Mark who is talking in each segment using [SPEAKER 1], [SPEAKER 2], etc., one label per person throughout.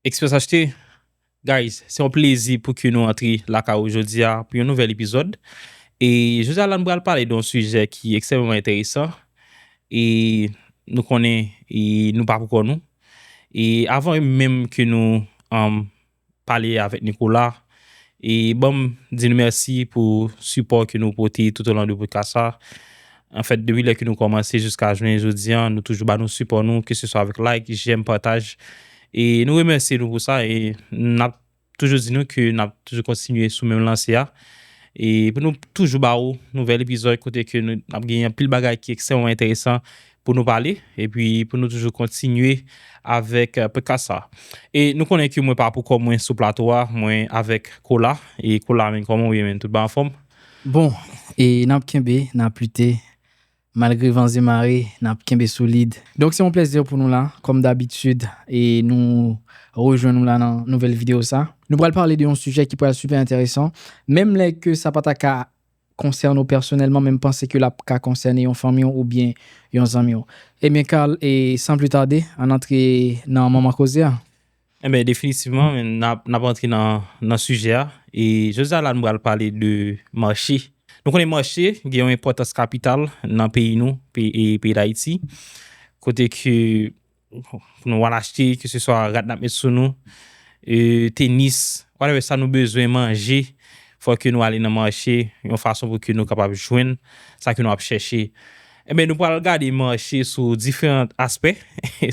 [SPEAKER 1] Express HT Guys se yon plezi pou ke nou antre lakay ou jodi a pou yon nouvèl epizòd e jodi a la nou pral pale de yon sijè ki ekstrèmeman enteresan e nou konnen e nou pa pou kò nou e avan menm ke nou pale avèk Nicolas E banm di nou mèsi pou sipò ke nou pote tout o lan de podkas sa. An fèt depi lè ke nou kòmanse jiska jounen jodi an, nou toujou ba nou sipò nou, ke se swa avèk like, jèm, pataj. E nou remèsye nou pou sa e nap toujou di nou ke nap toujou kontinye sou menm lanse a. E pou nou toujou ba ou nouvèl epizòd kote ke nap gen anpil bagay ki ekstrèmman enteresan pou nou pale epi pou nou toujou kontinye avèk podcast sa. E nou konnen ke mwen pa pou kò mwen sou plato a, mwen avèk Kola. E Kola men kòman ou ye men, tout bon anfòm? Bon,
[SPEAKER 2] e n ap kenbe, n ap lite, malgre van ze mare, n ap kenbe solid. Donk se yon plèzi pou nou la, kòm dabitid, e nou rejwenn ou la nan nouvèl videyo sa. Nou pral pale de yon sijè ki pral sipè enteresan, menm lè ke sa pa ta ka konsène w pèsonèlman menm panse ke l ap ka konsène yon fanmi w oubyen yon zanmi w. Ebyen Carl, san pli tade, ann antre nan manman koze a. Ebyen
[SPEAKER 1] definitivman, n ap antre nan sijè a. E jodi a la nou pral pale de mache. Nou konnen mache gen yon enpòtans kapital nan peyi nou, peyi Dayiti, kote ke Pou nou al achte ke se swa rad nap met sou nou, tenis, whatever sa nou bezwen, manje, fò ke nou ale nan mache yon fason pou ke nou kapab jwenn sa ke nou ap chèche. Enben nou pral gade mache sou diferan aspè,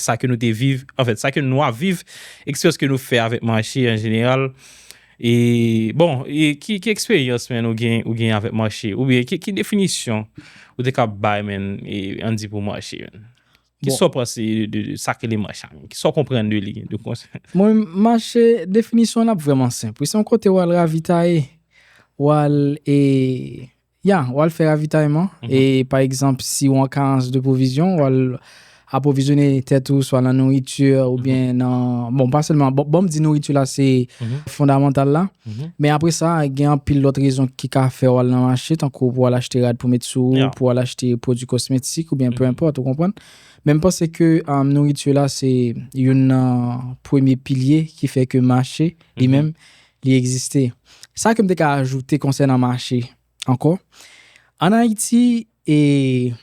[SPEAKER 1] sa ke nou te viv, anfèt sa ke nou ap viv, eksperyans ke nou fè avèk mache an jeneral, e bon e ki eksperyans men ou gen ou gen avèk mache? Oubyen ki definisyon ou te kab bay men e an di pou mache men? Ki sa w panse de sa k rele mach a menm? Ki sa w konprann de li? Mwen, mach,
[SPEAKER 2] definisyon l ap vrèman senp wi. Se yon kote w al ravitaye. W al e, ya, w al fè ravitayman. E, pa egzanp, si w an karans de pwovizyon, w al apwovizyone tèt ou swa nan nouriti oubyen nan, bon, pa sèlman, bon, m di nouriti la se fondamantal la. Men apre sa, gen anpil lòt rezon ki ka fè w al nan mache, tankou pou w al achte rad pou met sou ou, pou w al achte pwodui kosmetik oubyen pe enpòt, ou konprann? Men m panse ke nouriti la se youn nan premye pilye ki fè ke mache li menm li egziste. Sa ke m te ka ajoute konsènan mache ankò, ann Ayiti e.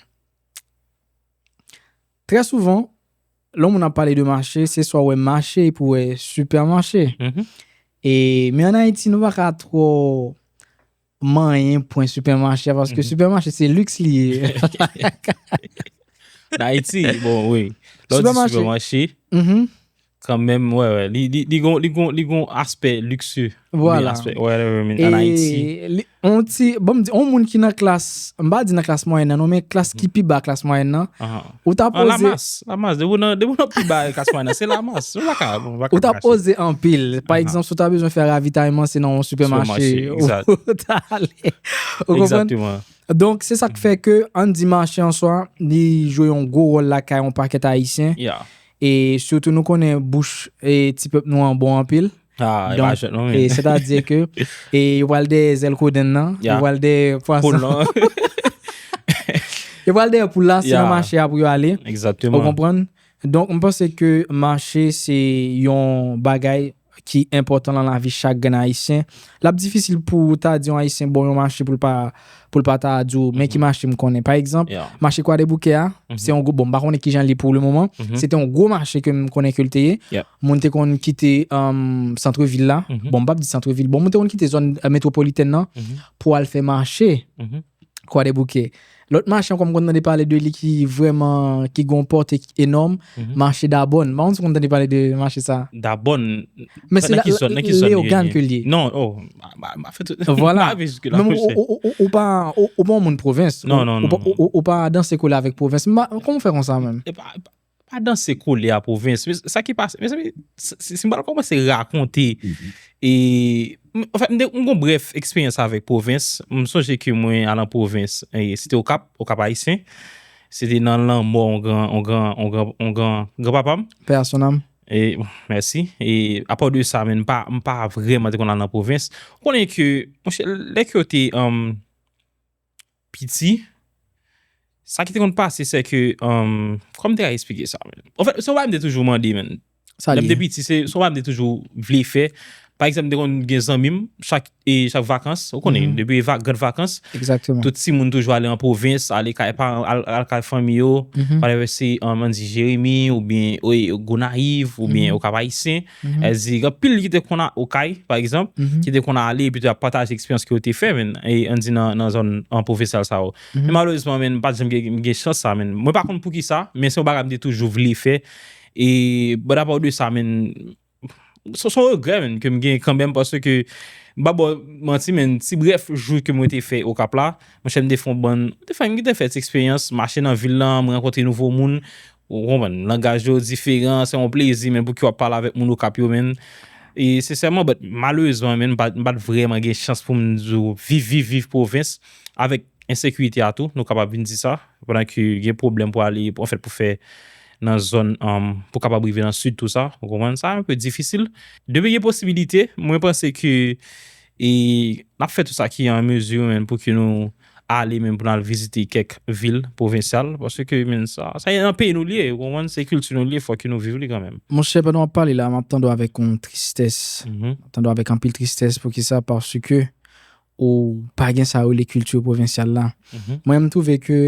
[SPEAKER 2] Trè souvan, lè yon moun ap pale de mache, se swa wè mache epi wè sipèmache. E men an Ayiti nou pa ka twò manyen pwen sipèmache a paske sipèmache se liks li ye.
[SPEAKER 1] Nan Ayiti, bon wi. Lè w di sipèmache. Kan menm, wè wè, li li li gon li gon li gon aspè likse. Vwala. Whatever
[SPEAKER 2] mean an Ayiti. E
[SPEAKER 1] li on ti,
[SPEAKER 2] bon m di on moun ki nan klas, m pa di nan klas mwayèn nan non men klas ki pi ba klas mwayèn nan, ou ta poze. An lamas, lamas, depi w nan
[SPEAKER 1] depi w nan pi ba klas mwayèn nan se lamas, ou pa ka bon pa ka. Ou ta
[SPEAKER 2] poze anpil, pa egzanp si w ta bezwen fè ravitayman se nan on sipèmache ou ta ale.
[SPEAKER 1] Ou konprann? Egzakteman. Donk se sa k
[SPEAKER 2] fè ke an n di mache an swa li jwe on gwo wòl lakay on pakèt Ayisyen. Yeah. E sitou nou konnen bouch ti pèp nou an bon anpil. Ha, e pa jwèt non men. Se ta di ke, e yo pral dèyè zèl kodenn nan, yo pral dèyè pwason. Poul lan. Yo pral dèyè poul la, se nan mache a pou yo ale. Exactement. Ou konprann? Donk, m panse ke mache se yon bagay. ki enpòtan lan lavi chak grenn Ayisyen. L ap difisil pou ou ta di yon Ayisyen bon yon mache pou l pa pou l pa ta di w men ki mache m konnen. Pa egzanp, mache Kwadeboukè a, se yon gwo bon m pa konnen ki jan l ye pou le moman. Se te yon gwo mache ke m konnen ke l te ye. Moun te konn kite santrevil la, bon m p ap di santrevil, bon moun te konn kite zòn metwopolitèn nan pou al fè mache Kwadeboukè. Lòt mache ankò m konn tande pale de li ki vrèman, ki gen yon pòte ki enòm, mache Dabòn. M pa konn si w konn tande pale de mache sa a. Dabòn,
[SPEAKER 1] nan ki
[SPEAKER 2] zòn, nan ki zòn li ye? Men se Leyogàn ke li ye. Non, o,
[SPEAKER 1] m pa fè tout, m pa rive
[SPEAKER 2] jiske la mouche. Vwala, men ou pa, ou pa yon moun pwovens. Non, non, non. Ou pa danse kole avèk pwovens. M pa, kòman w fè konn sa menm? E pa, e pa, Pa danse
[SPEAKER 1] kole a pwovens. Sa ki pase. Mezanmi, si m pral kòmanse rakonte. E, anfen, m gen yon brèf eksperyans avèk pwovens. M sonje ke mwen al an pwovens. E, se te Okap, Okap Ayisyen. Se te nan lanmò yon gran, yon gran, yon gran, yon gran, gran papa m. Pè a son àm.
[SPEAKER 2] E,
[SPEAKER 1] mèsi. E, apò de sa, men m pa, m pa vrèman te konn al nan pwovens. Ou konnen ke, monchè, lè ke yo te, anm, piti, sa ki te konn pase se ke, kòman m te ka esplike sa menm? Anfèt, se yon bagay m te toujou mande menm. Sa li ye? Lè
[SPEAKER 2] m te piti, se
[SPEAKER 1] yon bagay m te
[SPEAKER 2] toujou
[SPEAKER 1] vle fè. Pa egzanp, m te konn gen zanmi m, chak vakans, ou konnen, depi gran vakans, tout timoun
[SPEAKER 2] toujou ale an
[SPEAKER 1] pwovens, ale kay paran, ale kay fanmi yo, whatever, se, an di Jeremi, oubyen Gonayiv, oubyen Okap Ayisyen. Èl di gen anpil ki te konn okay pa egzanp ki te konn ale epi ap pataje eksperyans ke yo te fè menn an di nan zòn an pwofesyal sa yo men malerezman menn pat janm gen chans sa menn mwen pa konn poukisa men se yon bagay mte toujou vle fè e but apart de sa menn se yon regrè menn kem gen kanmenm paske m pa baw manti menn ti brèf jou ke mwen te fè okap la monchè mte fon bann mte fè ti eksperyans mache nan vil la mwen rankontre nouvo moun Ou konprann, langaj yo diferan, se yon plezi men pouki wap pale avèk moun Okap yo menn, e sensèman but malerezman menn m pat vrèman gen chans pou m di w viv viv viv pwovens avèk ensekirite a tou nou kapab vin di sa pandan ke gen pwoblèm pou ale anfèt pou fè nan zòn pou kapab rive nan sid tou sa ou konprann, sa enpe difisil, depi gen posibilite mwen panse ke e nap fè tout sa ki an mezi menn pouki nou. ale menm pou n al vizite kèk vil pwovensyal paske menn sa se nan peyi nou li ye ou konprann se kilti nou li ye fòk ke nou viv li kanmenm. Monchè pandan w ap pale la
[SPEAKER 2] m ap tande w avèk yon tristès m ap tande w avèk anpil tristès poukisa paske ou pa gen sa yo rele kilti pwovensyal la mwen m twouve ke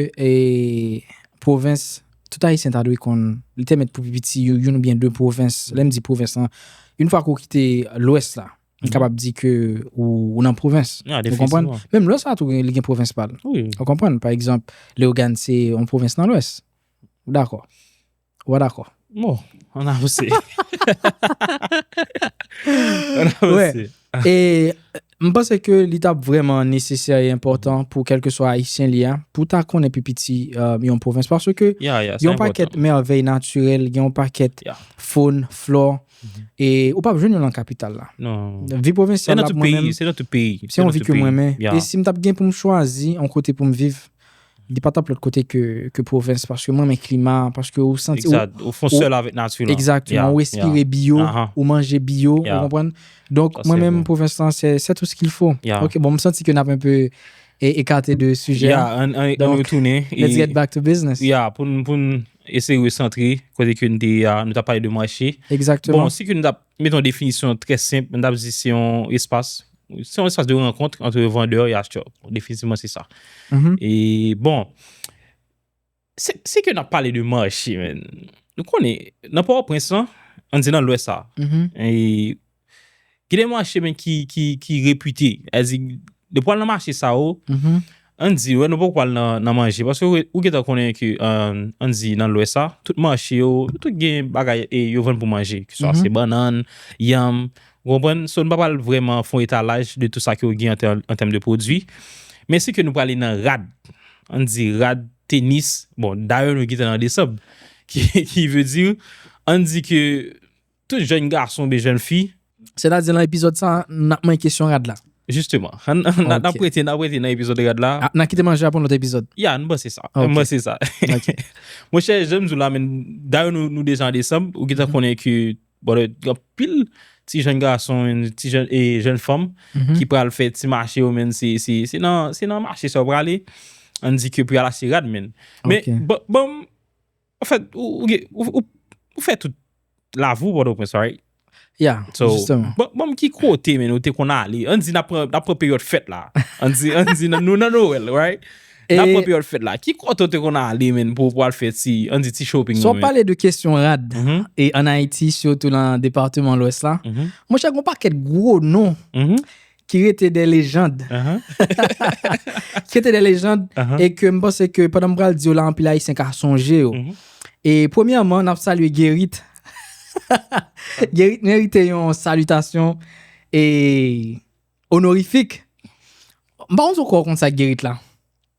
[SPEAKER 2] pwovens tout ayisyen ta dwe konn li te mèt pou pi piti youn oubyen de pwovens lè m di pwovens lan youn fwa ke w kite lwès la Li kapab di ke ou nan pwovens. Ya, definisyon. Menm lwès la tou li gen pwovens pa l. Wi. Ou konprann? Pa
[SPEAKER 1] egzanp,
[SPEAKER 2] Leyogan se yon pwovens nan lwès. Ou dakò? Ou pa dakò? Bon,
[SPEAKER 1] an avanse.
[SPEAKER 2] An avanse. E m panse ke li ta vrèman nesesè e enpòtan pou kèlkeswa Ayisyen li a pou ta konnen pi piti yon pwovens paske gen yon pakèt mèvèy natirèl, gen yon pakèt fon, flò, E ou pap jwenn yo lan kapital la. Non. Vi pwovensyal
[SPEAKER 1] la mwen
[SPEAKER 2] menm. Se nan tout
[SPEAKER 1] peyi. Se yon vi ke mwen menm.
[SPEAKER 2] E si m tap gen pou m chwazi yon kote pou m viv, li pa tap lòt kote ke pwovens. Paske mwen men klima, paske ou santi. Ekzat, ou fon sèl avèk
[SPEAKER 1] nati lan. Ekzat, ou respire
[SPEAKER 2] biyo, ou manje biyo, ou konpwen. Donk mwen menm pwovens lan, se tout se kil fo. Ok, bon m santi ke nap enpe ekate de sujè. Ya, an nou tounen.
[SPEAKER 1] Let's get back to business.
[SPEAKER 2] Ya, pou n.
[SPEAKER 1] Eseye resantre kote ke n te ye a, nou t ap pale de mache. Exactement. Bon, si ke nou t ap
[SPEAKER 2] mete yon
[SPEAKER 1] definisyon trè senp, nou t ap di se yon espas, se yon espas de rankontre antre vandè e achtè. Definitivman se sa. E bon, si ke n ap pale de mache men, nou konnen nan Pòtoprens lan, an di nan lwès la, Gen de mache men ki ki repite. Ezi de pwal nan mache sa ou. An di ou nou poko pwal nan manje. Paske ou gen tan konnen ke an di nan lwes sa. Tout mache ou, tout gen bagay e yo vann pou manje. Ki sa se bannan, yanm. Ou konpwen? So nou pa pwal vreman fon etalaj de tout sa ki ou gen an tem de pwodwi. Men si ke nou pwale nan rad. An di rad, tenis. Bon, dayou nou gen tan nan desanm. Ki ve di ou. An di ke. Tout jèn gason oubyen jèn fi. Sètadi lan epizòd
[SPEAKER 2] sa a, n ap manyen kesyon rad la. Jisteman.
[SPEAKER 1] N ap rete nan epizòd rad la. N a kite manje a pou yon lòt epizòd.
[SPEAKER 2] Ya, m panse sa. M
[SPEAKER 1] panse sa. Monchè, jan m di w la menn, dayè nou deja an desanm, ou gentan konnen ke gen anpil ti jèn gason, ti jèn e jèn fanm ki pral fè ti mache yo menn. Se nan mache sa yo prale. An di ke pou y al achte rad menn. Men, ban m An fèt, ou fè tout Lavour, Pòtoprens, right? Ya, jisteman.
[SPEAKER 2] So, banm ki
[SPEAKER 1] kote men ou te konn ale? An di n ap pran peryòd fèt la. An di, an di nou nan Noël, right? E. N ap pran peryòd fèt la. Ki kote ou te konn ale men pou ou al fè ti, an di ti shopping nou men? Si w ap pale de kesyon
[SPEAKER 2] rad, e an Ayiti, sitou nan departeman Lwès la, monchè, gen yon pakèt gwo non ki rete de lejand. Ki rete de lejand, e ke m panse ke pandan m pral di yo la anpil Ayisyen ka sonje yo. E premyèman, n ap salye Gerit. Gerit merite yon salitasyon e onorifik. M pa konn si w kwè w konn sa Gerit la.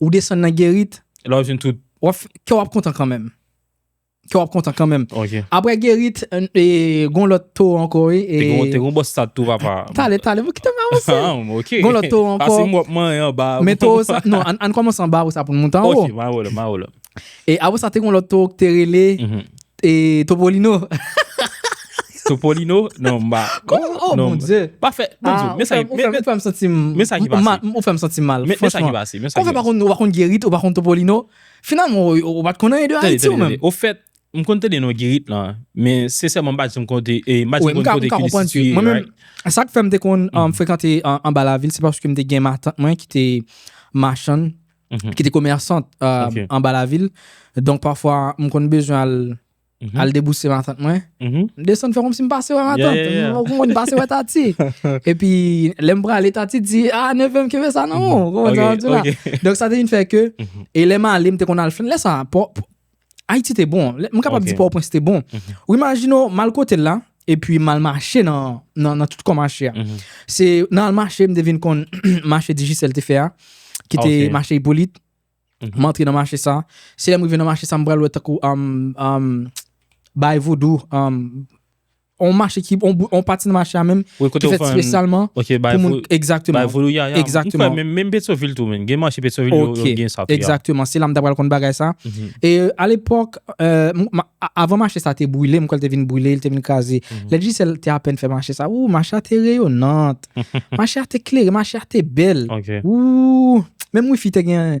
[SPEAKER 2] Ou desann
[SPEAKER 1] nan Gerit.
[SPEAKER 2] La ou jwenn tout. Kè w ap kontan kanmenm. Kè w ap kontan kanmenm. Ok. Aprè Gerit, e gon lòt towo ankò wi. Te gon, te gon bò stad
[SPEAKER 1] tou papa. Tale, tale, bon kite m
[SPEAKER 2] avanse. Ha, ok. Gon lòt
[SPEAKER 1] towo ankò. Pase m
[SPEAKER 2] wap manyen anba. Men
[SPEAKER 1] towo sa, non,
[SPEAKER 2] an kòmanse anba apre sa pou n monte anwo. Ok, ma wè w la, ma wè w la.
[SPEAKER 1] E apre sa te
[SPEAKER 2] gen yon lòt towo ki te rele Topolino. Topolino?
[SPEAKER 1] Non m pa. Oh mon Dye!
[SPEAKER 2] Pa fè, bon
[SPEAKER 1] Dye, men sa ki. Ou fè m santi m.
[SPEAKER 2] Men sa ki pase.
[SPEAKER 1] Ou fè m santi m mal.
[SPEAKER 2] Men sa ki pase. Men sa ki pase. Ou
[SPEAKER 1] fè m pa konn,
[SPEAKER 2] ou pa konn
[SPEAKER 1] Gerit, ou pa konn
[SPEAKER 2] Topolino. Finalman ou pa t konn anyen de Ayiti ou menm. Tande, tande, tande. Ou fèt, m konn tande
[SPEAKER 1] non Gerit lan. Men se sèlman m pa di m konn kote, m pa di m konn kote ki li sitye.
[SPEAKER 2] Mwen
[SPEAKER 1] menm, sa k
[SPEAKER 2] fè m te konn frekante anba lavil se paske m te gen matant mwen ki te machann. ki te komèsant anba la vil. Donk pafwa m konn bezwen al al debouse matant mwen. M desann fè kòmsi m pase wè matant. M konn pase wè Tati. E pi lè m prale Tati di, a neve m kenbe sa nan men w. Donk sa te vin fè ke e lè m ale m te konn al fè lè sa. Ayiti te bon, m kapab di Pòtoprens te bon. Ou imajine ou mal kote la, epi mal mache nan tout kò mache a. Se nan al mache m te vin kon mache Digicel te fè a, ki te mache Hyppolite, m antre nan mache sa. Se lè m rive nan mache sa m pral wè tankou Baye Vodou. On mache ki, on pati nan mache a menm ki fèt spesyalman pou moun. Ekzakteman. Bay vodou yaya. Ekzakteman. Mwen kwè menm Petyonvil
[SPEAKER 1] tou menm. Gen mache Petyonvil yo gen sa tou ya. Ekzakteman. Se la m ta pral konn
[SPEAKER 2] bagay sa. E a lepòk, avan mache sa te brile, mwen kwè l te vin brile, l te vin kraze. Lè Digicel te apèn fè mache sa, wou, mache a te reyonant. Mache a te klere, mache a te bèl. Ok. Wou, menm wifi te gen.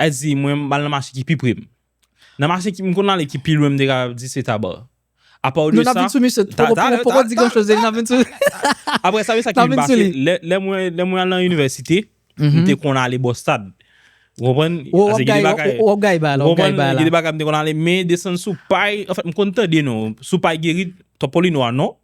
[SPEAKER 1] Li di, Mwen m al nan mache ki pi pre m. Nan mache ki m konn ale ki pi lwen m te kapab di se Taba. Apaw de sa. Non n ap vin sou misye. Poko poko
[SPEAKER 2] di gran choz. N ap vin sou li. Apre
[SPEAKER 1] sa, men sa ki vin pase. N ap vin sou li. Lè mwen lè mwen al nan inivèsite, m te konn ale bò stad. Ou konprann? Ou ap gaye bagay.
[SPEAKER 2] Ou ap gaye bagay la. Ou ap gaye bagay la. Ou konprann? Gen de bagay m te konn ale
[SPEAKER 1] men desann sou pay. Anfen, m konn tande non. Sou pay Gerit, Topolino a non.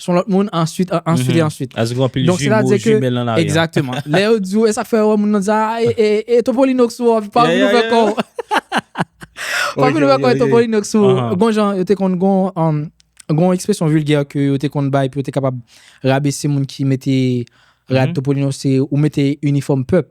[SPEAKER 2] son lòt moun answit, answit e answit. Sa vle di gen anpil jimo, jimèl nan lari an. Egzakteman. Lè yo di w, e sa k fè wè moun nan sa, e, e Topolino k sou ou, pa vin ouvè kò w. Pa vin ouvè kò w e Topolino k sou ou. Gon jan yo te konn gon, gon ekspresyon vilgè ke yo te konn bay pou yo te kapab rabese moun ki mete rad Topolino se ou mete inifòm pèp.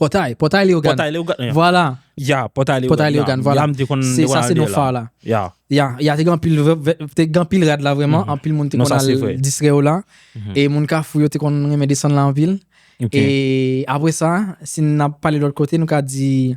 [SPEAKER 2] Pòtay, Pòtay Leyogàn. Pòtay Leyogàn, ya. Vwala. Ya, Pòtay Leyogàn.
[SPEAKER 1] Pòtay Leyogàn, vwala. Ya, m te
[SPEAKER 2] konn, m te konn al de la. Se sa se non fa la. Ya. Ya, ya te gen anpil, te gen anpil rad la vrèman, anpil moun te konn al distrè yo la. E moun Kafou yo te konn renmen desann la anpil. Ok. E apre sa, si n ap pale lòt kote, nou ka di.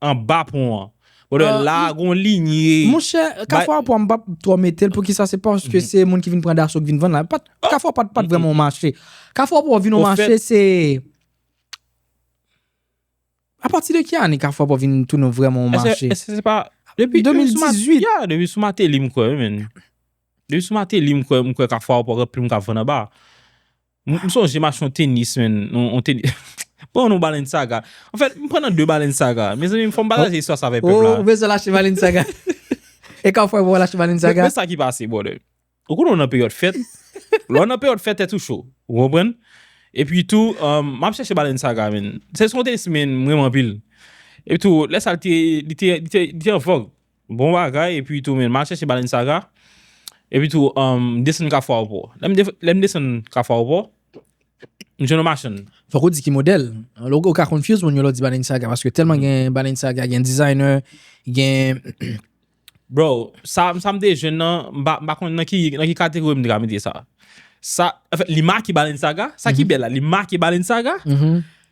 [SPEAKER 1] Anba pon an. Brother la a gon linye. Monchè, Kafou
[SPEAKER 2] a pon an m pap twò mete l poukisa se paske se moun ki vin pran daso ki vin vann la. Kafou a pon an pat vrèman yon mache. Kafou a pon an vin yon mache se A pati de ki ane kafou a pon an vin tounen vrèman yon mache? Èske se pa Depi
[SPEAKER 1] 2018.
[SPEAKER 2] Ya, depi sou Mateli
[SPEAKER 1] m kwè wi menn. Depi sou Mateli m kwè kafou a pon an gen plim k ap vann anba. M sonje m achte yon tenis menn, yon tenis, pran yon Balenciaga. An fèt, m pran nan 2 Balenciaga. Mezanmi, fò m pataje istwa sa avèk pèp la. Ou bezwen l achte Balenciaga.
[SPEAKER 2] E ka w fè pou w al achte Balenciaga? Men sa ki pase
[SPEAKER 1] brother. Ou konnen w nan peryòd fèt. Lè w nan peryòd fèt, tèt ou cho. Ou konprann? Epi tou, m ap chèche Balenciaga menn. Se yon tenis menn m renmen anpil. Epi tou, lè sa li te, li te, li te an vòg. Bon bagay epi tou men ma chèche baleine saga epi tou m desann kafou aupò lèm desann kafou aupò m jwenn yon machann. Fòk ou di ki modèl,
[SPEAKER 2] ou ka confuse moun yo lè w di baleine saga paske tèlman gen baleine saga gen designer gen.
[SPEAKER 1] Bro sa m te jwenn nan m pa konn nan ki kategori m te ka mete sa sa li make baleine saga sa ki bèl la li make baleine saga.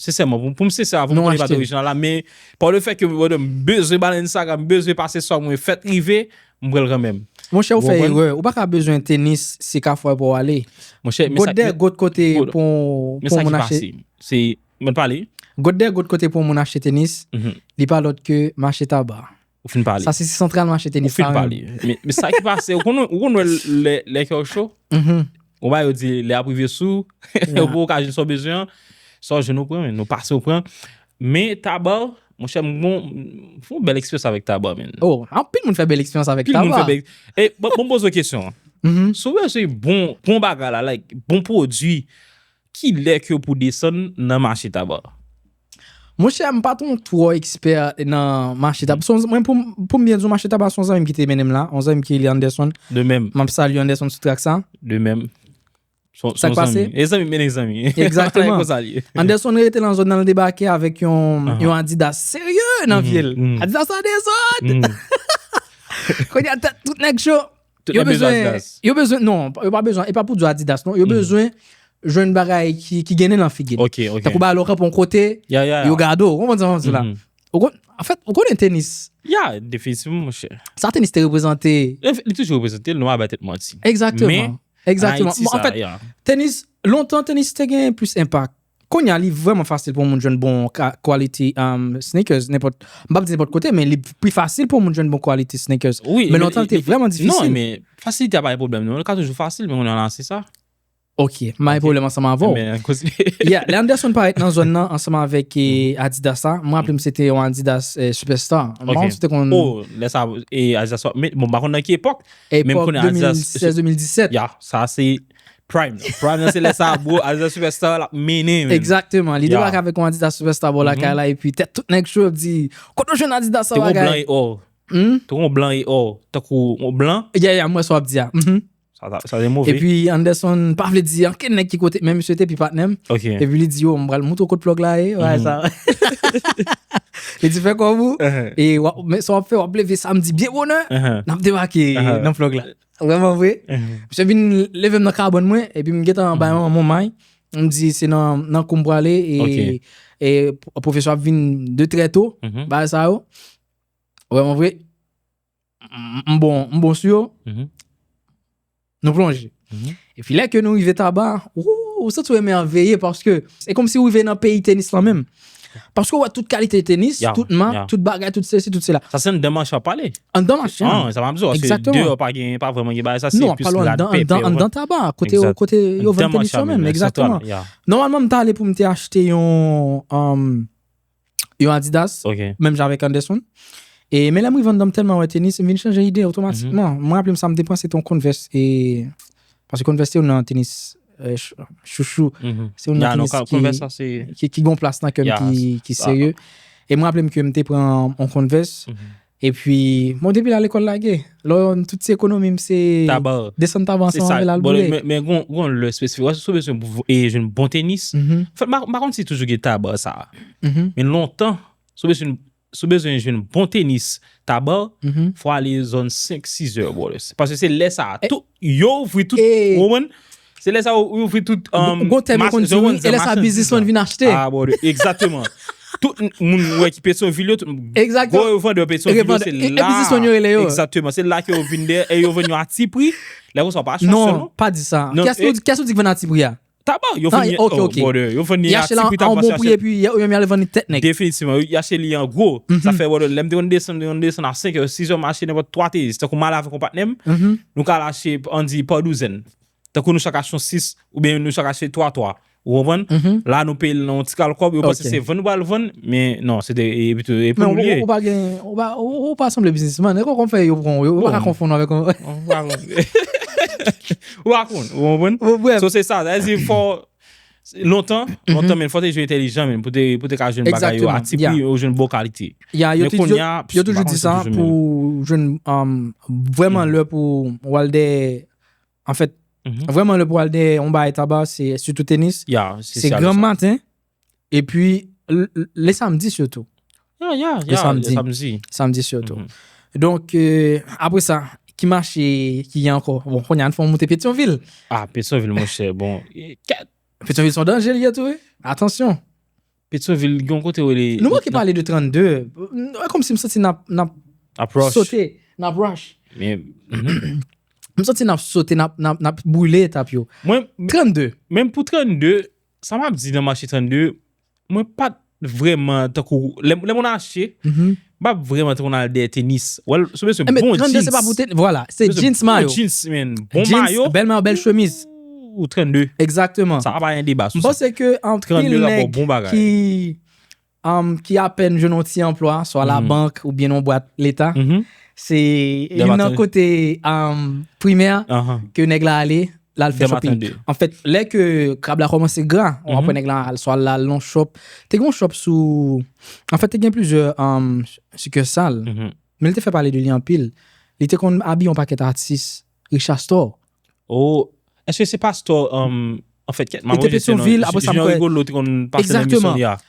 [SPEAKER 1] Sensèman, pou pou m sensè avè w, m konnen li pa t orijinal la, men pa le fè ke m wè m bezwen Balenciaga, m bezwen pase swa mwen fèt rive, m pran l kanmenm. Monchè ou fè erè,
[SPEAKER 2] ou pa ka bezwen tenis se Kafou pou w ale. Monchè, men sa Got dè
[SPEAKER 1] got kote
[SPEAKER 2] pou men sa ki pase, se, mwen
[SPEAKER 1] pale. Got dè got kote pou
[SPEAKER 2] moun achte tenis, li pa lòt ke mache Tabar. Ou fin pale. Sa se si
[SPEAKER 1] santral mache tenis
[SPEAKER 2] Ou fin pa pale. menm. Men men
[SPEAKER 1] sa ki pase, ou konn ou konn wè lè lè kèw cho, Mhm. ou ba yo di lè ap rive sou, Yeah. ou pou ka jwenn sa w bezwen an, sa w jwenn ou pran men, ou pase ou pran. Men taba, mon chè m gon m fè yon bèl eksperyans avèk taba men. Oh, anpil moun fè bèl
[SPEAKER 2] eksperyans avèk Pil moun taba. fè bèl. E bon bon
[SPEAKER 1] poze w kesyon. Mhm. Si w bezwen bon bon bagay la, like bon pwodwi, Ki lè ke pou desann nan mache taba? Monchè,
[SPEAKER 2] m pa t yon twò ekspè nan mache taba. Son, mwen pou m, pou m byen di w mache taba se yon zanmi m ki te mennen m la, yon zanmi m ki rele Anderson. De mèm. M ap salye
[SPEAKER 1] Anderson sou trak
[SPEAKER 2] sa. De mèm. Son,
[SPEAKER 1] son zanmi. Sa k
[SPEAKER 2] pase? E zanmi mennen zanmi.
[SPEAKER 1] Egzakteman. Se konsa l ye.
[SPEAKER 2] Anderson rete nan zòn nan, l debake avèk yon, yon Adidas serye nan pye l. Adidas la dezòd! Kounye a tèt tout nèg cho. Tout nèg bezwen adidas. Yo bezwen, non, yo pa bezwen, e pa pou di adidas non, yo bezwen jwenn bagay ki gen nen nan figi li. Ok, ok. Tankou ba lò kanpon kote, yo gade ou, ou konprann sa mwen di la. Ou konn, an fèt, ou konnen tenis. Ya, definitivman mwen
[SPEAKER 1] chè. Sa tenis te reprezante.
[SPEAKER 2] Li toujou reprezante,
[SPEAKER 1] nou pa bay tèt manti. Ekzakteman,
[SPEAKER 2] ekzakteman. Mwen anfèt, tenis, lontan tenis te gen plis enpak. Kounye a li vrèman fasil pou moun jwenn bon quality sneakers nenpòt, m pap di nenpòt kote men li pi fasil pou moun jwenn bon quality sneakers. Men lontan li te vrèman
[SPEAKER 1] difisil.
[SPEAKER 2] Non men,
[SPEAKER 1] fasilite
[SPEAKER 2] a pa
[SPEAKER 1] yon pwoblèm non, li ka toujou fasil men kounye a la se sa. Ok, m pa
[SPEAKER 2] gen pwoblèm ansanm avè w. Yeah, lè Anderson parèt nan zòn nan ansanm avèk Adidas la, m raple m se te yon Adidas Superstar. M pa konn si w te konn. Oh,
[SPEAKER 1] lè sa Adidas, bon m pa konn nan ki epòk. Epòk 2016-2017.
[SPEAKER 2] Yeah, sa se.
[SPEAKER 1] Prime nan. Prime nan se lè sa bro, Adidas Superstar la mennen menn. Exactement. Li debake
[SPEAKER 2] avèk yon Adidas Superstar bò lakay la epi tèt tout nèg cho ap di, kote w jwenn Adidas sa bagay? Te gen yon blan e or.
[SPEAKER 1] Humm? Te gen yon blan e or. Tankou yon blan. Yeah yeah, m wè sa w ap di a.
[SPEAKER 2] Mh. Sa te
[SPEAKER 1] move. Epi Anderson
[SPEAKER 2] pa vle di anken nèg ki kote, men misye te pi patnè m. Ok. Epi li di yo,
[SPEAKER 1] m pral
[SPEAKER 2] moutre w kote plug la ye, bagay sa. Li di fè kòm ou. E sa w ap fè, w ap leve samdi byen bonè, n ap debake nan plug la. Vreman vre. Misye vin leve m nan kabòn mwen, epi m gentan bay yon mou may, m di se nan kou m prale, e pwofesè ap vin de trè to, bagay sa yo. Vreman vre, m bon sou yo, nou plonje. Epi lè ke nou rive Taba, ooh, ou santi ou emèveye paske se kòmsi ou rive nan peyi tenis lan menm. Paske ou wè tout kalite tenis, tout mak, tout bagay, tout sesi, tout sela. Sa se anndan machin wap pale?
[SPEAKER 1] Anndan machin. An, sa
[SPEAKER 2] map di ou, se
[SPEAKER 1] deyò pa gen, pa
[SPEAKER 2] vreman gen bagay
[SPEAKER 1] sa, se plis rad pepe. Non, anndan
[SPEAKER 2] Taba, kote yo vann tenis yo menm, exactement. Nòmalman m ta ale pou m te achte yon, anm. Yon Adidas, menm jan avèk Anderson. E men lè m rive anndan m tèlman wè tenis, m vin chanje ide otomatikman. M raple m sa m depanse te yon Converse e paske Converse se youn nan tenis chouchou. Se youn nan tenis
[SPEAKER 1] ki gon plas nan kè m
[SPEAKER 2] ki serye. E m raple m ke m te pran yon Converse Epi, bon depi la lekòl lage, lò yon tout ti ekonomi m se desann taban
[SPEAKER 1] san anvel
[SPEAKER 2] al boule. Men
[SPEAKER 1] gen
[SPEAKER 2] yon
[SPEAKER 1] lè
[SPEAKER 2] espesifik,
[SPEAKER 1] wè sou bezwen pou yon bon tenis, m pa konn si toujou gen taban sa. Men lontan, sou bezwen yon bon tenis taban, fwa ale zòn 5, 6 zè. Pase se lè sa, yo ouvri tout, wè mwen. Se lè sa ou ouvri tout Ou gon tèm yo konn di
[SPEAKER 2] wi, e lè sa biznisman vin achte. Ah bon, egzateman.
[SPEAKER 1] Tout moun ou wè ki Petyonvil yo, gwo revandè
[SPEAKER 2] Petyonvil
[SPEAKER 1] yo se la. E biznisman yo rele yo. Egzateman, se la ke yo vin dèyè e yo vann yo a ti pri. Lè konsa ou pa chans sèlman. Non, pa di sa.
[SPEAKER 2] Kiyès ou di ki vann a ti pri a? Tabac, yo vann li,
[SPEAKER 1] oh brother, yo vann
[SPEAKER 2] li a ti pri. Yo achte
[SPEAKER 1] li a yon bon pri e pi yo
[SPEAKER 2] menm yo ale vann li tèt nèg. Definitivman, yo achte li
[SPEAKER 1] an gwo. Sa fè brother, lè m te konn desann, m te konn desann a 5 è, 6 è m achte nenpòt 3 teyis. Tankou m ale avèk yon patnè m, nou ka al achte, an di, pa douzèn. Tankou nou chak achte yon 6, oubyen nou chak achte 3, 3. Ou konprann? La nou peye l nan yon ti kal kòb, yo panse se vann nou pral vann, men non, se te e pou nou li ye. Men ou pa gen,
[SPEAKER 2] ou pa sanble biznisman, e konprann fè yo pran ou, ou pa ka konfonn avèk yon. Ou pa konn. Ou pa
[SPEAKER 1] konn, ou konprann? Bon bref. So se sa, sa vle di fò, lontan, lontan men, fò te jwe entèlijan men, pou te ka jwenn bagay yo a ti pri, yo jwenn bon kalite. Ya,
[SPEAKER 2] yo toujou di sa, pou jwenn, vwèman lè pou wal de. En fèt, vrèman lè pou al dèyè yon bagay taba, se sitou tenis, se granm maten, epi le samdi sitou. Ya, ya, ya, le
[SPEAKER 1] samdi. Samdi sitou.
[SPEAKER 2] Donk, apre sa, ki mache ki gen ankò? Bon, konye an fon moute Petyonvil. Ah, Petyonvil, mouche,
[SPEAKER 1] bon. Petyonvil
[SPEAKER 2] son danje li etou, e. Atansyon. Petyonvil
[SPEAKER 1] gen yon kote rele. Nou manke pale de
[SPEAKER 2] 32. E kòmsi m santi n ap. Ap rush. Sote.
[SPEAKER 1] N ap
[SPEAKER 2] rush. M santi n ap sote, n ap boule etap yo. 32. Menm pou 32,
[SPEAKER 1] sa m ap di nan mache 32, mwen pa t vrèman tankou lè moun achte, Bab vreman t konn al dèyè tenis. Wèl sou mesye bon jeans. Enben 32 se pa pou tenis vwala.
[SPEAKER 2] Se jeans mayo. Bon jeans men. Bon
[SPEAKER 1] mayo. Bèl mayo bèl chemiz.
[SPEAKER 2] Ooh 32.
[SPEAKER 1] Egzakteman. Sa pa pa gen
[SPEAKER 2] deba sou sa. M
[SPEAKER 1] panse ke anpil
[SPEAKER 2] nèg ki ki apèn jwenn yon ti anplwa swa la bank ou byen yon bwat leta. Se youn nan kote primè ke nèg la ale. Lal fè shopping. En fait, lè ke krab la kòmanse gra, ou apwè nèg la al swal lal non shop. Te gen yon shop sou, en fait te gen plizyè succursal. Men li te fè pale de li anpil. Li te konn abiye yon pakèt atis. Richard Store. Oh,
[SPEAKER 1] eske se pa store, en fait, kèt, mwen pa wè jesè non. Li te Petionville, apwè
[SPEAKER 2] sa mwen kwè. Jean Rigolo te konn pase nan emisyon li a. Exactement.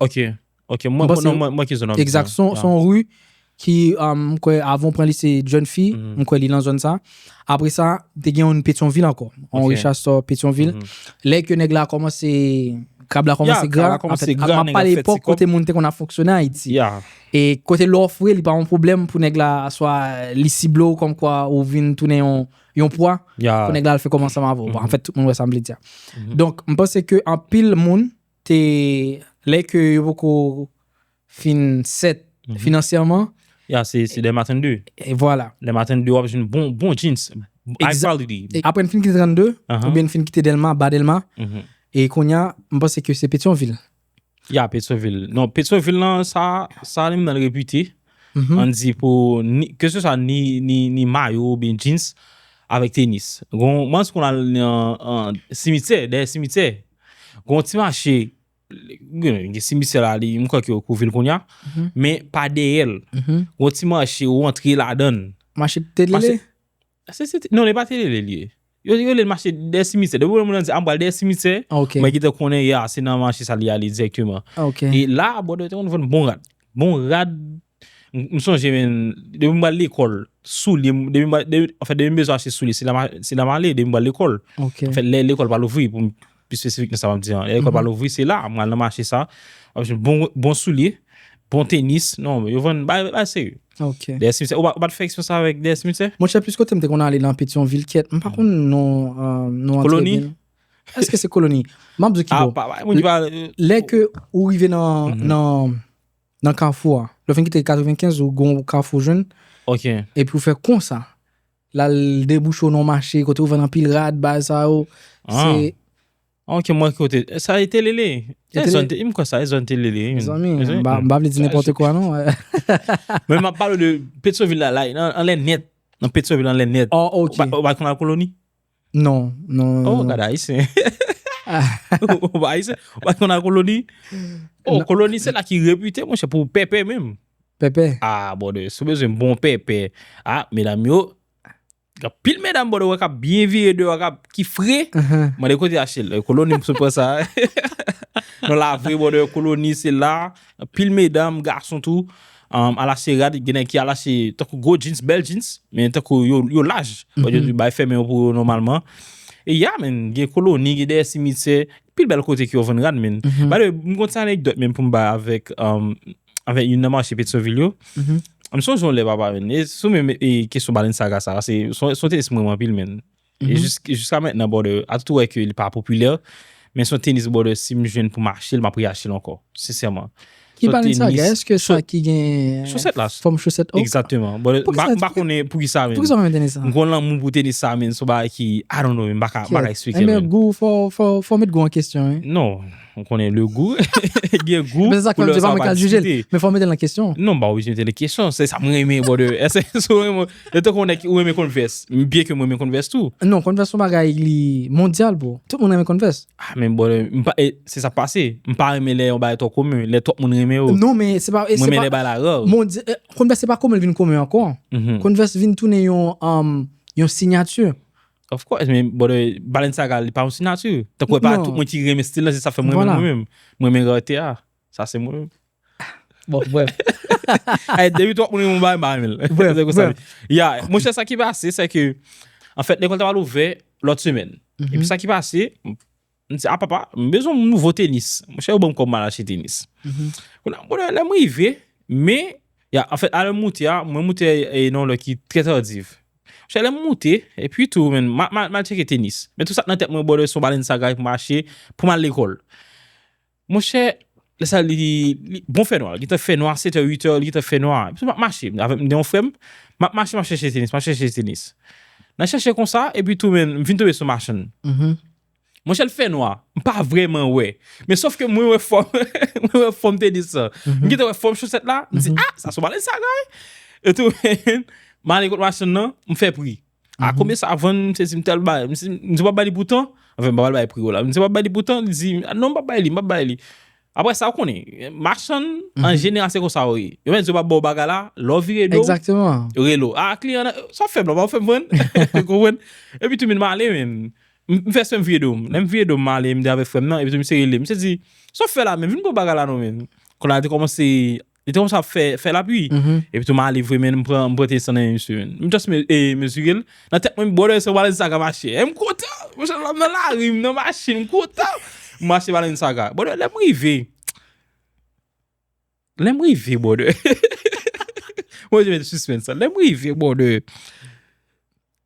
[SPEAKER 2] Ok,
[SPEAKER 1] ok, mwen Bon, se- konnen mwen mwen ki zon an Exact, son, Yeah. son rue
[SPEAKER 2] ki um, kwe avon pran li se John Fi, Mhm. m kwe li nan zone sa. Après ça, te gen yon Pétionville encore, on Ok. recherche sur Pétionville. Mhm. Lè ke nèg la komanse krab la komanse Yeah, gra, krab la komanse anfèt, gra, ap nèg ap pale fè ti epòk kòb. kote moun te konn ap fonksyone Ayiti. Yeah. E kote lè w ofri li pa yon pwoblèm pou nèg la swa li sible ou kòm kwa ou vin tounen yon yon pwa Yeah. pou nèg la al fè kòm ansanm avè ou. Bon, Mhm. anfèt tout moun wè sa m vle di a. Mhm. Donk, m panse ke anpil moun te lè ke yo poko fin set finansyèman. Ya se dè
[SPEAKER 1] maten de. E vwala. Dè
[SPEAKER 2] maten de wap jwenn
[SPEAKER 1] bon bon jeans. High quality. Apre n fin kite 32,
[SPEAKER 2] oubyen n fin kite delma, ba delma. E konya m panse ke se petyonvil. Ya petyonvil.
[SPEAKER 1] Non petyonvil lan sa sa li menm repite. An di pou ni ke se sa ni mayo oubyen jeans avèk tenis. Gon mans pou n al nan simityè, dèyè simityè. Gon ti mache, gen simisè la li, mwen kwa ki okou vil konya, mhm. men pa deyèl. Mhm. Gon ti mache ou antre la dan. Mache
[SPEAKER 2] telele?
[SPEAKER 1] Non, ne pa telele li. Yo li yon mache de simisè. Depi mwen mwen di, an bal de simisè, ah, mwen gita konen ya, se nan mache sa li ale direktyman. Ah, e la, bon, de te yon bon rad. Bon rad, M sonje men, depi m pral lekòl, soulye m, depi m pral, anfen depi m bezwen achte soulye, se la m ale, depi m pral lekòl. Ok. Anfen lè lekòl pa louvri, pou m pi spesifik nan sa m ap di an, lè lekòl pa louvri, se la, m al nan mache sa, m ap jwenn bon, bon soulye, bon tenis, non, yo vann bagay, bagay serye. Ok. Dèyè simitè, ou pa, ou pa t fè eksperyans sa avèk dèyè simitè? Monchè, plis kote m te konn ale
[SPEAKER 2] nan Petyonvil, kyèt, m pa konn non, non an trè byen. Koloni?
[SPEAKER 1] Èske se
[SPEAKER 2] koloni? M ap di w ki bò. A, pa, moun ki pa. Lè ke ou rive nan, nan. Nan kafou a. Lè w fin kite 95 ou gon kafou w
[SPEAKER 1] jwenn.
[SPEAKER 2] Ok. Epi w fè konsa. La l debouche w nan yon mache kote yo vann anpil rad bagay sa yo. Ah. Se. Ok
[SPEAKER 1] mwen kote. Sa e telele. Se Telele. zòn te- m kwè sa e zòn telele. wi. Mezanmi, Mezanmi, m pa m
[SPEAKER 2] pa vle di nenpòte kwa non. Men
[SPEAKER 1] map pale de Petyonvil la la anlè nèt. Nan Petyonvil anlè nèt. Oh ok. Ou pa ou pa konn
[SPEAKER 2] lakoloni?
[SPEAKER 1] Non,
[SPEAKER 2] non. Oh, gade
[SPEAKER 1] Ayisyen. Ou pa Ayisyen? Ou pa konn al koloni? Oh, koloni se la ki repite, mwen chè, pou pèpè menm. Pèpè? Ah,
[SPEAKER 2] bòdè, sou
[SPEAKER 1] bezwen bon pèpè. Ah, medam yo, gap pil medam bòdè wè kap byen vire deyò, kap ki fre. Mwen de kote achte l. Koloni msou pran sa. Non la vre bòdè, koloni se la, pil medam, gason tou, Alase rad gen nèg ki alase tankou gwo jeans bèl jeans men tankou yo laj bay fèmen yo pou yo nòmalman e ya menn gen koloni gen dèyè simityè anpil bèl kote ki yo vann rad menn by the way m gon ti anekdòt menm pou m bay avèk avèk youn nan mache petyonvil yo m sonje yon lè papa menn e sou menm kesyon Balenciaga sa se yon te esprime m anpil menn. E jiska mentnan brother, a tout ou wè ke li pa popilè, men son tenis brother si m jwenn pou m achte l m ap reachte l ankò, sensèman. Ki pale de sa
[SPEAKER 2] gars, eske sa ki gen Chosèt la. fòm chosèt
[SPEAKER 1] ok? Exactement.
[SPEAKER 2] Brother, m pa m
[SPEAKER 1] pa konnen pou ki sa men. Pou ki sa ou renmen tenis sa? M gon lanmou
[SPEAKER 2] pou tenis sa
[SPEAKER 1] men, son bagay ki I don't know men m pa ka, m pa ka eksplike l men. Kèt, enben gou, fò, fò,
[SPEAKER 2] fò met gou an kesyon wi. Non. Ou konnen
[SPEAKER 1] le gou, gen gou, Men se sa k fè m di se pa mwen k al jije
[SPEAKER 2] l, men fò w mete l nan kesyon an. Non, m pa oblije mete l nan kesyon,
[SPEAKER 1] se sa m renmen brother. Èske si w renmen, se tankou yon nèg ki ou renmen Converse, byen ke m renmen Converse tou. Non, Converse son bagay
[SPEAKER 2] li mondyal bro. Tout moun renmen Converse. Ah men brother, m
[SPEAKER 1] pa, se sa k pase, m pa renmen lè yon bagay twò komen, lè twòp moun renmen yo. Non men se pa, se pa. Mwen
[SPEAKER 2] renmen lè bagay la rare. Mondy,
[SPEAKER 1] Converse se pa komen
[SPEAKER 2] l vin komen ankò. Converse vin tounen yon, yon signature. Of course, men
[SPEAKER 1] bòdè Balenciaga li pa yon sinati. Tankou e pa tout mwen ki renmen stil la, se sa fè mwen renmen mwen menm. Mwen renmen rarete a. Sa se mwen menm. Bon,
[SPEAKER 2] bref. Ay,
[SPEAKER 1] depi twòp moun renmen yon bagay, m pa renmen l. Bref, bref. Ya, mwen chè sa ki pase, se ke, an fèt, lekòl ta pral ouvè lòt semèn. Epi sa ki pase, M di, a papa, m bezwen yon nouvo tenis. Mwen chè yo banm kòb mal achte tenis. Kounye a, bonè, lèm rive, me, ya, anfèt, a lèm moute a, mwen moute e nan yon lè ki trè tardiv. Mwen chè lèm moute, e pi tou, men, mal, mal, mal cheke tenis. Men tou sa k nan tèt mwen, bonè, son balèn sa gay pou m achte, pou m al lekòl. Monchè, lè sa li, li, bon fè nwa, li gentan fè nwa, setè, uitè, li gentan fè nwa. Epi m ap mache, m avèk m gen yon frè m, m ap mache m ap chèche tenis, m ap chèche tenis. Nan chèche konsa, epi tou men, m fin tonbe sou machann. Monchè l fè nwa, m pa vrèman wè. Men sof ke mwen wè fòm, mwen wè fòm tenis lan. M gentan wè fòm chosèt la, m di, a, sa son balèn sa, guy! Etou men, m ale kot machann nan, m fè pri. A konbyen sa vann, m sezi m te al bay, m si, m di w pa bay li pou tan, anfen m pa pral bay pri w la, m si w pa bay li pou tan, li di, non m pa bay li, m pa bay li. Aprè sa ou konnen, machann an jeneral se konsa yo ye. Yo menm si yo pa ba w bagay la, lè w vire do, Exactement. yo rele w,
[SPEAKER 2] a kliyan nan,
[SPEAKER 1] sa w fè m la, w pa fè m vann, ou konprann? Epi tou min m ale menm, m fè esprè m vire do m, lè m vire do m m ale m te avèk frè m nan, epi tou misye rele m, misye di, sa w fè la menm, vin pran bagay la non menm. Kounye a li te kòmanse Li te kòmanse ap fè fè lapui. Epi tou m ale vre men m pran te san nan men misye men. M just mezire l. Nan tèt mwen brother se yon Balenciaga m achte. M kontan! Monchè m nan lari, m nan machin, m kontan! M achte Balenciaga. Brother lè m rive, lè m rive brother, mwen jwenn suspens lan. Lè m rive brother.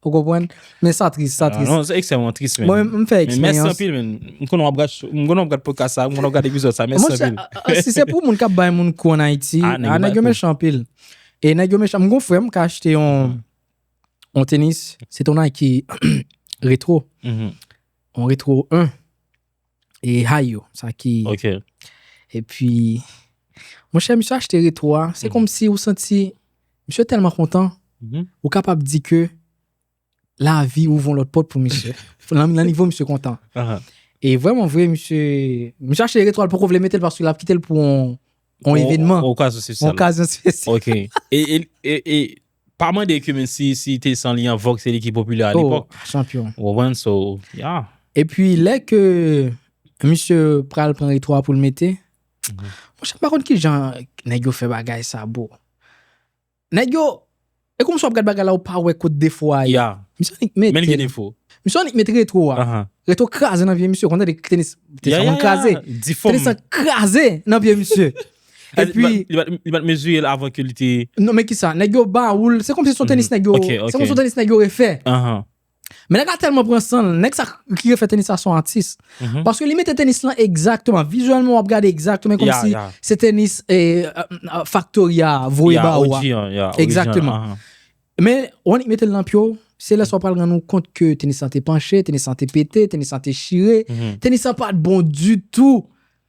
[SPEAKER 2] Ou konprann? Men sa tris, sa tris. Non, se ekstrèmman tris
[SPEAKER 1] men. Mwen m fè eksperyans. Mèsi
[SPEAKER 2] anpil men. M
[SPEAKER 1] konnen w ap gad, m konnen w ap gad podcast sa, m konnen w ap gad epizòd sa. Mèsi anpil. Monchè, si se pou moun k ap bay
[SPEAKER 2] moun kou an Ayiti, a nèg yo mechan anpil. E nèg yo mechan. M gen yon frè m ki achte yon yon tenis, se te yon Nike retro. Yon retro 1. E hay yo, sa ki... Ok.
[SPEAKER 1] E pi,
[SPEAKER 2] mwen chè misye achte retro a, se kòm si ou santi, misye tèlman kontan, ou kapab di ke la vi ou von lòt pòt pou misye. Nan nivo misye kontan. E vwèman vwe misye, misye achte retro a, l poko vle mete l paske l ap kite l pou yon evènman. Yon okazyon spesyal. Yon okazyon spesyal. Ok. E
[SPEAKER 1] Pa mande ke men si si te san li an vòg se li ki popilè a lepòk. Oh chanpyon. Ou konprann
[SPEAKER 2] so
[SPEAKER 1] yeah. Epi lè
[SPEAKER 2] ke misye pral pran retro a poul mete, monchè m pa konn kijan nèg yo fè bagay sa bro. Nèg yo e kòmsi wap gad bagay la ou pa wè kot defo a ye. Yeah. Misye annik mete.
[SPEAKER 1] Men li gen
[SPEAKER 2] defo.
[SPEAKER 1] Misye annik met retro
[SPEAKER 2] a. Uh-huh. Retro kraze nan pye misye, ou konn tande tenis, tenis lan konn kraze. Yeah yeah yeah, di fò m. Tenis lan kraze nan pye misye. Epi Li pat mezire l
[SPEAKER 1] avan ke li te Non men kisa nèg yo
[SPEAKER 2] ba ou l se kòmsi se yon tenis nèg yo se kòmsi se yon tenis nèg yo refè Men nèg la tèlman pran san l nèg sa ki refè tenis la se yon atis paske li mete tenis lan egzakteman vizyèlman w ap gade egzakteman e kòmsi se tenis faktori a voye ba ou a egzakteman Men w annik mete l nan pye w se lè sa w pral rann ou kont ke tenis lan te panche tenis lan te pete tenis lan te chire tenis lan pat bon ditou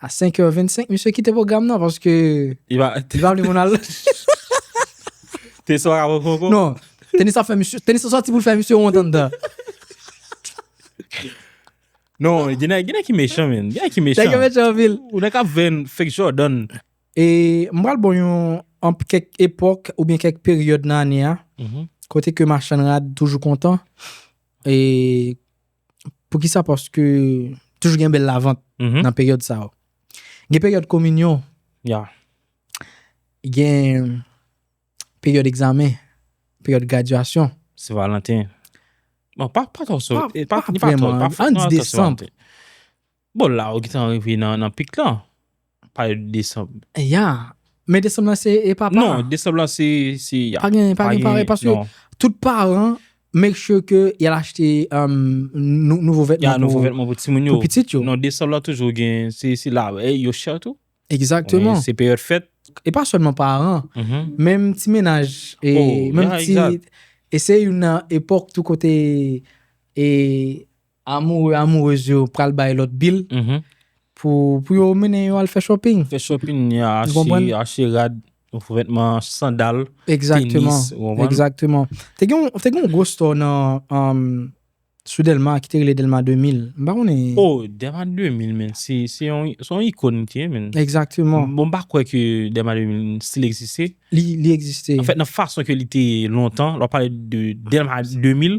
[SPEAKER 2] A 5 heures 25 misye kite pwogram nan paske Li pa li pa vle moun al.
[SPEAKER 1] Te swa ka poko poko. Non, tenis ap fè
[SPEAKER 2] misye, tenis ap sòti pou l fè misye wont anndan.
[SPEAKER 1] Non, gen nèg gen nèg ki mechan men. Gen nèg ki mechan. Nèg yo mechan anpil.
[SPEAKER 2] Ou
[SPEAKER 1] nèg
[SPEAKER 2] kap ven
[SPEAKER 1] fake Jordan. E m
[SPEAKER 2] pral bon yon an kèk epòk oubyen kèk peryòd nan ane a kote ke machann rad toujou kontan e Poukisa? Paske toujou gen bèl lavant nan peryòd sa yo. Gen peryòd kominyon. Ya. Gen peryòd egzamen, peryòd gradyasyon. Se valanten.
[SPEAKER 1] Bon, pa tò sou. Pa vreman.
[SPEAKER 2] An di desanm. Bon
[SPEAKER 1] la ou gntan rive nan pik lan, pale de desanm. Ya,
[SPEAKER 2] men desanm lan se e papa. Non, desanm lan se
[SPEAKER 1] ya. Pa gen
[SPEAKER 2] pare paske tout paran make sure ke y al achte nouvo vètman. Ya nouvo vètman pou timoun yo.
[SPEAKER 1] Pou pitit yo. Non, desanm
[SPEAKER 2] lan toujou gen,
[SPEAKER 1] se la vèy, yo chè tou. Egzakteman. Se
[SPEAKER 2] peryòd fèt.
[SPEAKER 1] E pa sèlman paran,
[SPEAKER 2] menm ti menaj. O, ya, egzat. E se youn nan epòk tou kote e. Amoureux amoureuse yo pral bay lòt bil pou yo mennen yo al fè shopping. Fè shopping
[SPEAKER 1] ni a achte rad, vètman, sandal, tenis,
[SPEAKER 2] ou konprann?
[SPEAKER 1] Exactement.
[SPEAKER 2] Te gen yon gwo store nan sou Delma ki te rele Delma 2000. M pa konnen. Oh, Delma 2000
[SPEAKER 1] men, se yon icône li te ye men. Exactement. Bon m pa
[SPEAKER 2] kwè ke
[SPEAKER 1] Delma 2000 still egziste. Li egziste.
[SPEAKER 2] An fèt nan fason
[SPEAKER 1] ke
[SPEAKER 2] li
[SPEAKER 1] te ye lontan, lè w pale de Delma 2000,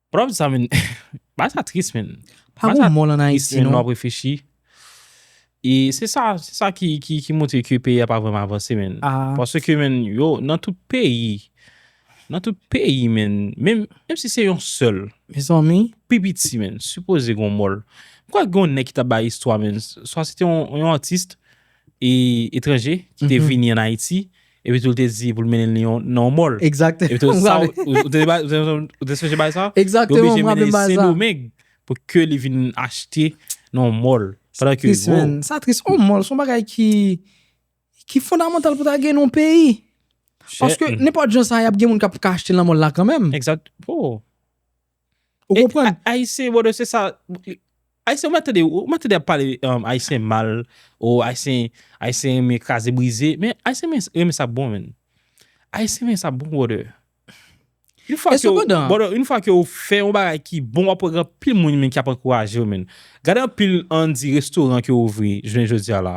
[SPEAKER 1] Pranm sa menn bagay sa tris menn. Pa gon mòl an Ayiti non. Bagay
[SPEAKER 2] sa tris menn lè wap reflechi.
[SPEAKER 1] E se sa se sa ki montre ke peyi a pa vrèman avanse menn. Paske menn yo nan tout peyi nan tout peyi menn menm si se yon sèl. Mezanmi. Pi
[SPEAKER 2] piti menn
[SPEAKER 1] sipoze gon mòl. M kwè gon nèg ki tap bay istwa menn. Swa se te yon atis etranje ki te vini an Ayiti Epi tou li te di pou l mennen li yon nan yon mòl. Exactement. Epi tou sa ou te ou te sonje bagay sa? Exactement, yo oblije mennen
[SPEAKER 2] li Sendomeng pou ke li
[SPEAKER 1] vin achte nan yon mòl. Sa tris menn, sa tris. Yon
[SPEAKER 2] mòl son bagay ki ki fondamental pou ta gen yon peyi. Paske nenpòt jan sa y ap gen moun k ap ka achte nan mòl la kanmenm. Exact, oh.
[SPEAKER 1] Ou
[SPEAKER 2] konprann? E Ayisyen brother
[SPEAKER 1] se sa Ayisyen ou mèt tande ou mèt tande ap pale Ayisyen mal ou Ayisyen Ayisyen renmen kraze brize men Ayisyen renmen sa k bon menn Ayisyen renmen sa k bon brother Yon fwa ke brother yon fwa ke ou fè yon bagay ki bon wap wè gen anpil moun menn ki ap ankouraje w menn gade anpil an di restoran ki ouvri jounen jodi a la.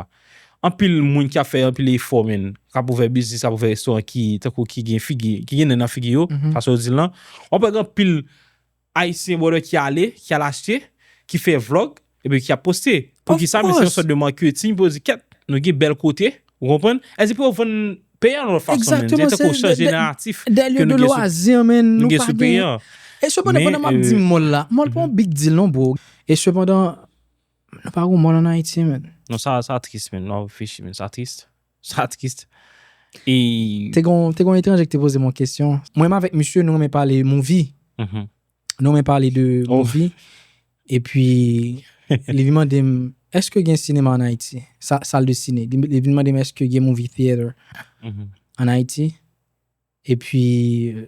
[SPEAKER 1] Anpil moun ki ap fè anpil efò menn, k ap ouvè biznis, ap ouvè restoran ki tankou ki gen figi, ki gen nen nan figi yo, fason yo di l lan. W ap wè gen anpil Ayisyen brother ki ale, ki al achte, ki fè vlog, epi ki ap poste. Pou ki sa? Men se yon sòt de marketing pou yo di kèt, nou gen bèl kote, ou konprann? Èn di pou yo vann peyi an yon lòt fason menn. Ekzakteman, se tankou chanje
[SPEAKER 2] naratif
[SPEAKER 1] ke nou gen sou peyi
[SPEAKER 2] an. Nou gen sou peyi an. E
[SPEAKER 1] sepandan pandan m
[SPEAKER 2] ap di mòl la, mòl pa yon big deal non bro. E sepandan. Nou pa gon mòn an Ayiti
[SPEAKER 1] menn.
[SPEAKER 2] Non sa
[SPEAKER 1] sa triste
[SPEAKER 2] menn
[SPEAKER 1] wap reflechi menn sa triste sa triste et. Te gon
[SPEAKER 2] te gon etranje ki te pozem yon kesyon. Mwen menm avèk misye nou renmen pale movie nou
[SPEAKER 1] renmen pale
[SPEAKER 2] de movie epi li vin mandem èske gen sinema an Ayiti sa sal de sine li vin mandem èske gen movie theatre an
[SPEAKER 1] Ayiti.
[SPEAKER 2] E pi,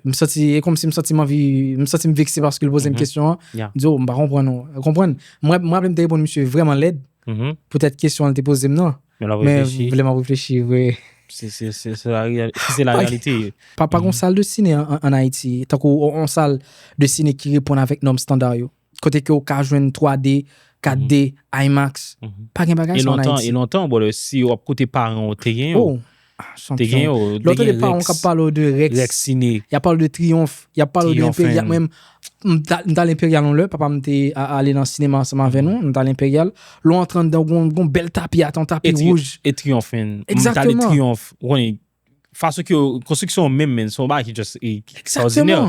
[SPEAKER 2] m santi, e kòmsi m santi m anvi, m santi m vekse paske l poze m kesyon an. M di,
[SPEAKER 1] o,
[SPEAKER 2] m pa konprann
[SPEAKER 1] ou.
[SPEAKER 2] Ou konprann? M raple m te reponn misye vreman lèd poutèt
[SPEAKER 1] kesyon an l te poze
[SPEAKER 2] m nan. Men l ap reflechi. Men vle
[SPEAKER 1] m ap reflechi,
[SPEAKER 2] vre. Se
[SPEAKER 1] la reyalite. Se la reyalite. Pa gon sal de
[SPEAKER 2] sine an Ayiti, tankou on sal de sine ki reponn avèk nòm standar yo. Kote ke ou ka jwenn 3D, 4D, IMAX. Pa gen bagay
[SPEAKER 1] sa an
[SPEAKER 2] Ayiti. E lontan, brother, si ou ap
[SPEAKER 1] koute paran ou te gen yo. Oh! Chanpyon. Te
[SPEAKER 2] gen yo.
[SPEAKER 1] Lè w tande paran w k ap
[SPEAKER 2] pale w de Rex. Rex Cine. Y ap pale w
[SPEAKER 1] de Triyonf.
[SPEAKER 2] Y ap pale w de Enperyal. Mwen menm, m t al Enperyal yon lè. Papa m te ale nan sinema ansanm avè nou. M t al Enperyal. Lè w antre anndan, w gen yon bèl tapi ata, yon tapi wouj. E Triyonf, men.
[SPEAKER 1] Egzakteman. M t ale Triyonf. Fason ke yo, konstriksyon an menm men, se yon bagay ki just ekstraòdinè.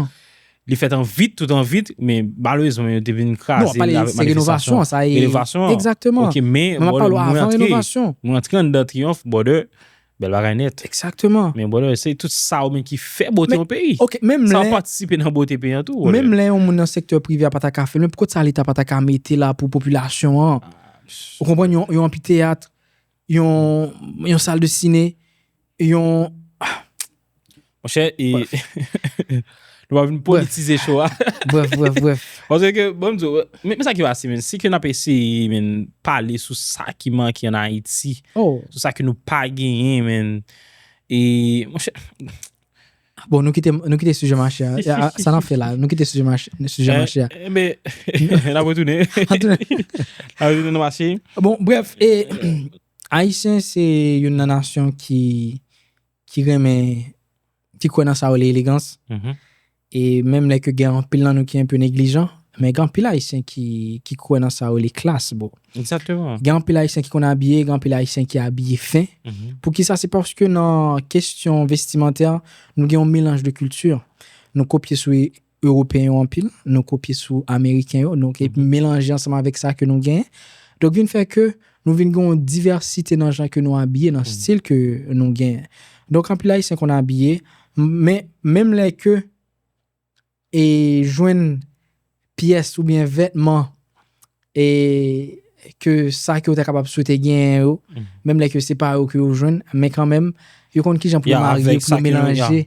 [SPEAKER 1] Li
[SPEAKER 2] fèt an vit,
[SPEAKER 1] tout an vit, men malerezman yo te vin kraze. Non, wap pale se renovasyon
[SPEAKER 2] an, sa e. Renovasyon an. Ekzaktèman.
[SPEAKER 1] Ok, men, mwen antre,
[SPEAKER 2] mwen antre an dan triyonf,
[SPEAKER 1] brother, bèl bagay nèt. Ekzaktèman. Men brother,
[SPEAKER 2] se tout
[SPEAKER 1] sa ou menm ki fè bote yon peyi. Ok, menm lè. Sa ou patisipe
[SPEAKER 2] nan bote peyi an
[SPEAKER 1] tou. Menm lè yon moun nan sektè
[SPEAKER 2] prive a pata ka fèl, men poukòt sa leta pata ka mete la pou popilasyon an. Ou konprann yon anpiteyat, Yon sal de sine, yon...
[SPEAKER 1] Mon chè, e... Nou pa vin politize show a. Bref, bref, bref.
[SPEAKER 2] Bon, se ke, bon,
[SPEAKER 1] mzou, men sa ki va se men, se ke nan pe se, men, pale sou sa ki manke an Haiti, sou sa ki nou pa genyen, men, e, mon chè,
[SPEAKER 2] Bon, nou kite, nou kite suje mache a. Ya, a, Sa nap fè la, nou kite suje mache, suje mache a. Eh, mais,
[SPEAKER 1] la retourner. La retourner dans marché. Bon, bref, e,
[SPEAKER 2] Ayisyen se youn nan nasyon ki, ki renmen, ki kwè nan sa yo rele elegans. Mhm. E menm lè ke gen anpil nan nou ki enpe neglijan, Men gen anpil ayisyen ki kwè nan sa yo rele klas bro. Exactement. Gen anpil
[SPEAKER 1] ayisyen ki konn
[SPEAKER 2] abiye, gen anpil ayisyen ki abiye fen. Poukisa se paske nan kesyon vestimantè nou gen yon melanj de kilti. Nou kopye sou ewopeyen yo anpil, nou kopye sou ameriken yo, nou ke melanje ansanm avèk sa ke nou genyen. Donk vin fè ke nou vin gen yon divèsite nan jan ke nou abiye, nan stil ke nou genyen. Donk anpil ayisyen konn abiye men menm lè ke e jwenn pyès oubyen vètman e ke sa ke yo ta kapab swete genyen yo, menm lè ke se pa yo ke yo jwenn, men kanmenm, yo konn kijan pou yo marye, pou yo melanje,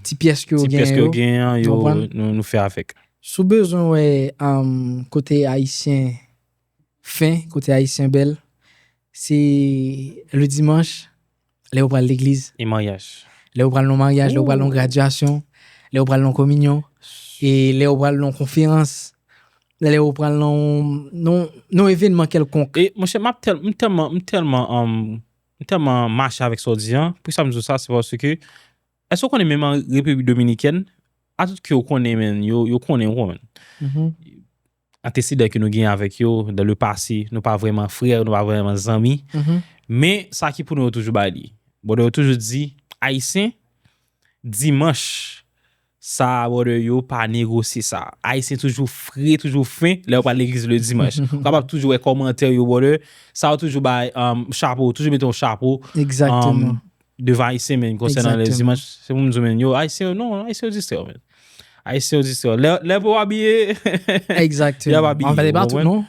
[SPEAKER 1] ti pyès ke yo
[SPEAKER 2] genyen yo, nou fè avèk.
[SPEAKER 1] Si w bezwen wè
[SPEAKER 2] kote Ayisyen Fen kote ayisyen bèl se le dimanche lè yo pral legliz. E maryaj.
[SPEAKER 1] Lè yo pral nan maryaj,
[SPEAKER 2] lè yo pral nan gradyasyon, lè yo pral nan kominyon, e lè yo pral nan konferans, lè yo pral nan yon evenman kèlkonk. E monchè map tèl m
[SPEAKER 1] tèlman m tèlman m tèlman mache avèk sa w di an, poukisa m di w sa se paske èske w konnen menm an Repiblik Dominikèn, atout ke yo konnen men yo konnen w konprann. Anteseden ke nou genyen avèk yo, dan le pase, nou pa vrèman frè, nou pa vrèman zanmi, men sa ki pou nou yo toujou bay li. Brother yo toujou di, Ayisyen, dimanch, sa a brother yo pa negosye sa. Ayisyen toujou fre, toujou fen, lè yo pral legliz le dimanch. Ou kapab toujou wè kòmantè yo brother, sa yo toujou bay, chapo, toujou mete yon chapo. Exactement.
[SPEAKER 2] Devan Ayisyen
[SPEAKER 1] men, konsènan lè dimanch, se pou m di men, yo, Ayisyen yo, non, Ayisyen yo distrè yo men. Ayisyen yo distrè yo. Lè pou yo abiye, y
[SPEAKER 2] ap abiye. Anfè, e pa tout non.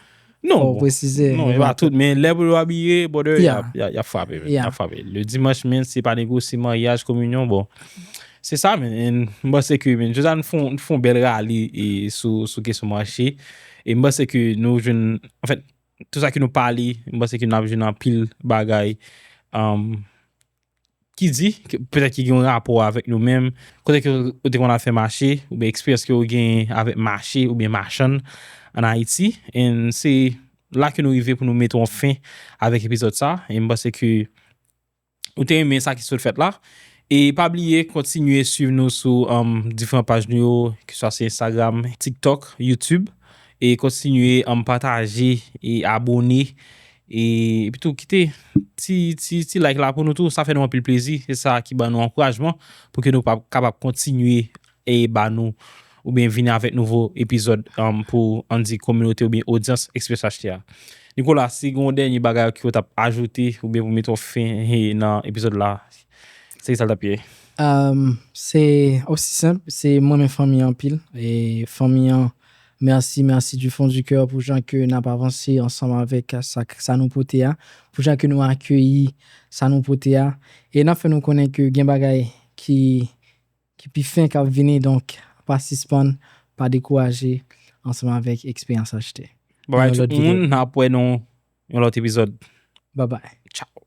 [SPEAKER 2] Non, bon.
[SPEAKER 1] Non, e pa
[SPEAKER 2] tout, men lè
[SPEAKER 1] pou yo abiye, brother, y ap frape men. Y ap frape. Le dimanch men, se pa nego, se maryaj, kominyon, bon. Se sa men, en, m panse ke men, jousa nou fon, nou fon bèl rale sou kesyon manche, e m panse ke nou joun, anfè, Tout sa ke nou pale, m panse ke n ap jwenn anpil bagay ki di, petèt ki gen yon rapò avèk nou menm, kote ke ou te konn al fè mache, oubyen eksperyans ke ou genyen avèk mache oubyen machann an Ayiti. And se la ke nou rive pou nou mete yon fen avèk epizòd sa, e m panse ke. ou te renmen sa ki sot fèt la. E pa bliye kontinye swiv nou sou diferan paj nou yo ki swa se Instagram, TikTok, YouTube e kontinye pataje e abone e epitou kite ti like la pou nou tou sa fè nou anpil plezi e sa ki ban nou ankourajman pou ke nou kapab kontinye e ba nou oubyen vini avèk nouvo epizòd pou an di kominote oubyen odyans Express HT a. Nicolas si gen yon dènye bagay ke ou tap ajoute oubyen pou mete yon fen nan epizòd la se ki sa l tap ye? Se
[SPEAKER 2] osi senp, se m renmen fanmi an anpil e fanmi an mèsi mèsi du fond du cœur pou jan ke nap avanse ansanm avèk sa nou pote a, pou jan ke nou akeyi sa nou pote a e nap fè nou konnen ke gen bagay ki ki pi fen kap vini donk pa sispann pa dekouraje ansanm avèk eksperyans
[SPEAKER 1] achte nan yon
[SPEAKER 2] lòt videyo.
[SPEAKER 1] Bye bye tout
[SPEAKER 2] moun
[SPEAKER 1] nap wè nou yon lòt epizòd. Bye bye. Ciao.